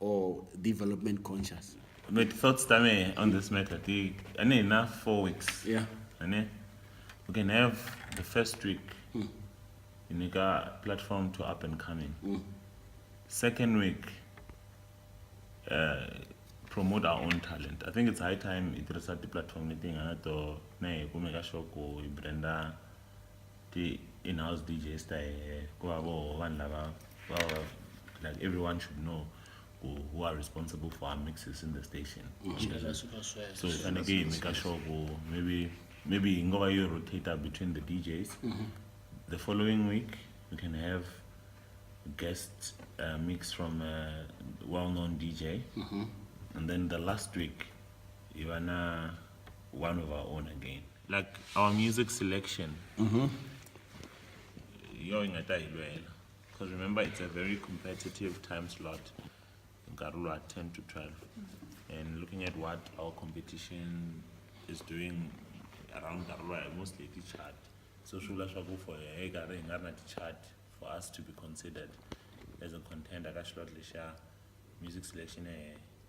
or development conscious but thoughts tame on this matter ti ane ina four weeks yeah ane we can have the first week mm. inika platform to up and coming mm. second week uh, promote our own talent i think it's high time i tirhisa ti-platform leti nga na to ne hi kumeka xoko hi branda ti-in-house D_J ta hehe ku va voho vanhu lava va va like everyone should know ku who are responsible for our mixes in the station so hi faneke hi maker sure ku maybe maybe hi ngo va yi rotator between the DJs the following week we can have guest uh, mix from a well-known DJ and then the last week hi va na one of our own again like our music selection mm-hmm. yooyo ingade ayilwela because remember it's a very competitive time slot nkarhi lowa 10 to 12 and looking at what our competition is doing around nkarhi lowa hi mostly hi ti-chart so swi vula swaku for hi karhi hi nga ri na ti-chart for us to be considered as a contender ka xilot lexa music selection ehe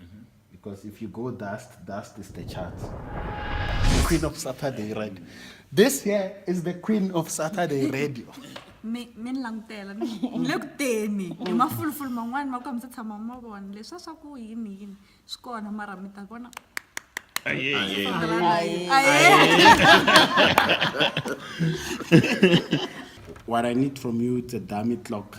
Mm -hmm. Because if you go dust, dust is the chance. The queen of Saturday radio. This here is the queen of Saturday radio. mi mi ni langutela ni le ku teni hi mafulufulu man'wani ma ku hambi se tshama ma vona leswi a swa ku yini yini swi kona mara mi ta vona Aye, aye. Aye. Aye. what I need from you, it's a dummy clock.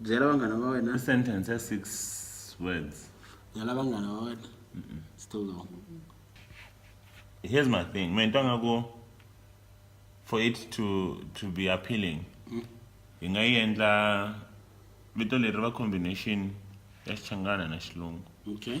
byela vanghana va wena i sentence ya six words byela vanghana va wena still long here's my thing me ni twa nga ku for it to to be appealing mm. hi nga yi endla vito leri va combination ya xichangana na xilungu okay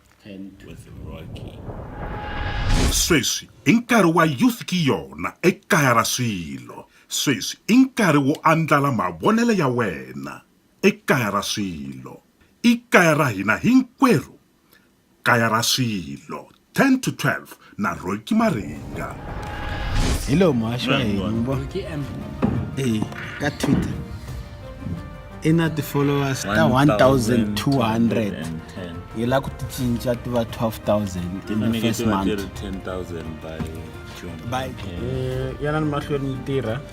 and with Rocky. sweswi i nkarhi wa youth ki yona ekaya ra swilo sweswi i nkarhi wo andlala mavonelo ya wena ekaya ra swilo i kaya ra hina hinkwerhu kaya ra swilo 10 to 12 na roki maringa hi lowu muhaxi wa hina mi vona e ka twitter i na ti-followers ta 1200 hi la ku ti cinca ti va 12000 in the first month by yana ni mahlweni yi tirha